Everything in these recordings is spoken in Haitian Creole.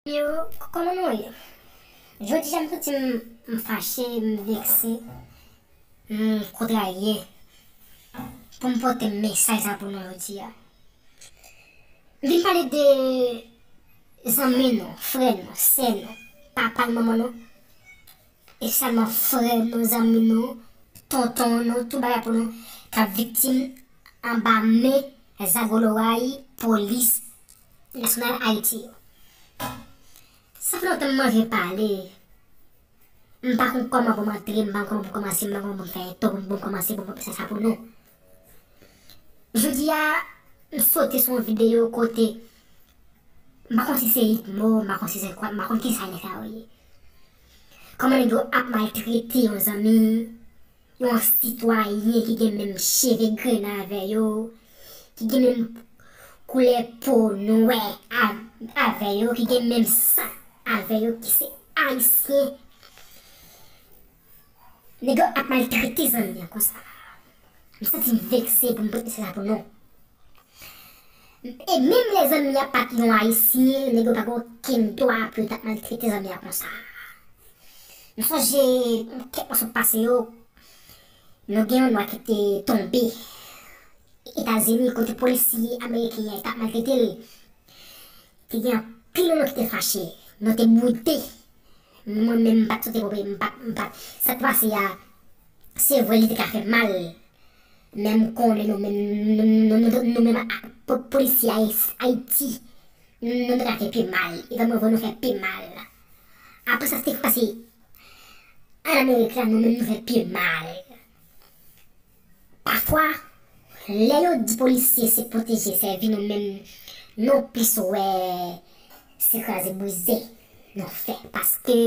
Yo, kòman nou ye? Jodi a m santi m m fache, m vekse, m kontrarye pou m pote mesaj sa pou nou jodi a. M vin pale de zanmi nou, frè nou, sè nou, papa nou, manman nou. Espesyalman frè nou, zanmi nou, tonton nou, tout bagay pou nou, k ap viktim anba men zagoloray polis nasyonal Ayiti yo. Sa fè lontan m manje pale, m pa konn kòman pou m antre, m pa konn kòman pou m kòmanse, m pa konn kòman pou m fè entwo, pou m kòmanse pou m sa pou nou. Jodi a m sote sou yon video kote m pa konn si se idmo m pa konn si se kòd m pa konn kisa nèg sa yo ye. Kòman nèg yo ap maltrete yon zanmi yon sitwayen ki gen menm cheve grenan avè yo ki gen menm koulè po nwè avè yo ki gen menm san avè yo ki se ayisyen. Nèg yo ap maltrete zanmi an konsa. M santi m vekse pou m pot mesaj la pou nou. E menm lè zanmi an pat yon ayisyen, nèg yo pa gen okenn dwa pou yo ta maltrete zanmi an konsa. M sonje kèk mwa sot pase yo, nou gen yon nwa ki te tonbe Etazini kote polisye ameriken an tap maltrete l. Te gen anpil moun ki te fache. Nou te boude. Mwen menm mpat sote pope mpat mpat sat pase a sevre li te ka fè mal men m konnen nou menm nou menm ak polisye ayiti nou te ka fè pi mal epa mwen vwe nou fè pi mal aprè sa sak pase an amerik la nou menm nou fè pi mal. Pafwa, lè yo di polisye se pwoteje sèvi nou menm nou plis wè se kraze brize nou fè paske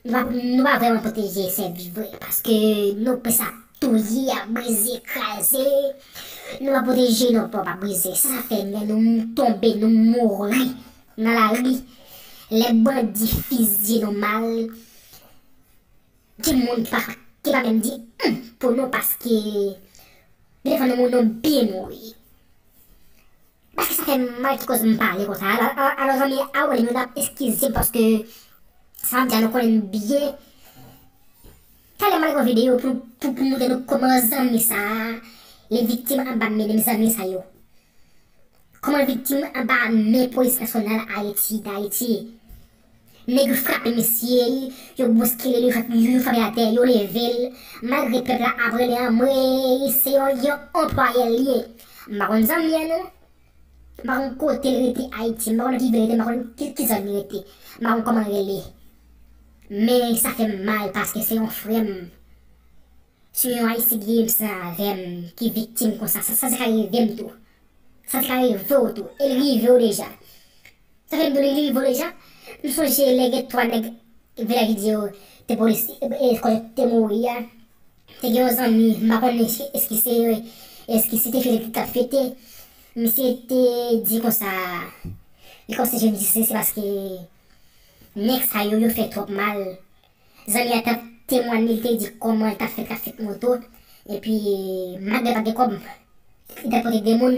nou pa vrèman pwoteje sèvi vre paske nou plis ap touye, ap brize, kraze nou pa pwoteje nou pou nou pa brize sa fè lè nou tonbe nou mouri nan lari lè bandi fizye nou mal. Gen moun ki pa ki pa menm di humm pou nou paske gen de fwa nou nou byen mouri paske sa fèm mal ki koz m pale konsa a a alò zanmi a wèl nou tap eskize m paske sa map di a nou konnen l byen talè male gade yon videyo pou pou pou montre nou kòman zanmi sa li viktim anba men m zanmi sa yo kòman l viktim anba men polis nasyonal ayiti dayiti. Nèg frape misye, yo bouskile li vant li, yo frape atè, yo leve l, malgre pèp la ap rele anmweyy se yon yon anplwayè l ye. M pa konn zanmi an non. M pa konn kote l rete Ayiti, m pa konn ki vil li rete, m pa konn ki zòn li rete, m pa konn kòman l rele. Men sa fè m mal paske se yon frè m, se yon Ayisyen ki gen menm san avè m ki viktim konsa. Sa te ka rive m tou. Sa te ka rive w tou. E li rive w deja. Safem dou li li vole ja. M sonje lè gen 3 nèg vilaj li di yo te polis kon yo te mouri a te gen yon zanmi m pa konnen eske se eske se te fete li tap fete misye te di konsa li kòmanse jwenn misye se paske nèg sa yo yo fè twòp mal zanmi a tap temwanye li te di kòman li tap fè trafik moto epi malgre l pat gen kòb li tap pote 2 moun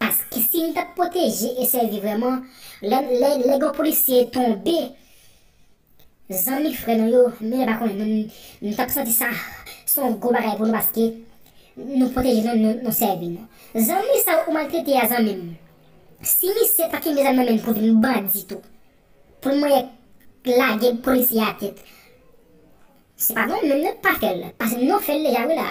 Paske si nou t ap pwoteje e sèvi vrèman, lè gen yon polisye tonbe, zanmi frè nou yo, nou menm pa konnen nou, nou t ap santi sa se yon gwo bagay pou nou paske nou pwoteje nou, nou sèvi nou. Zanmi sa ou maltrete a zanmi m, si misye pa kenbe zam nan men l pou vin bandi tou, pou l manyè lage polisye a atè, se pa nou menm nou k pa fè l, paske nou fè l deja wi la,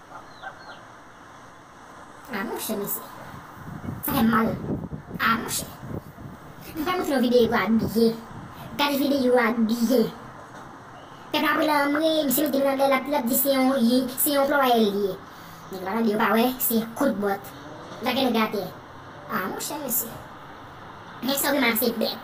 Ah monchè mesye sa fèm mal ah monchè nou fè monte yon video a byen gad video a byen pèp la pran anmwee misye mete men anlè lap di se yon se yon anplwaye li ye nèg la tande yo pa wè se kout bòt lage nèg atè ah monchè mesye men sa ou gen mal se bèt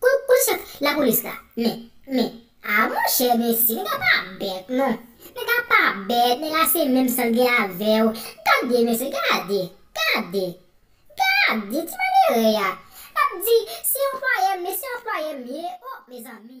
Pou polis yo t la polis la men men ah monchè mesye nèg la pa bèt non nèg la pa bèt nèg la se menm san gen avèw gade mesye gade gade gade ti malere ya lap di se anplwayèm mesye anplwayèm ye oh mezanmi.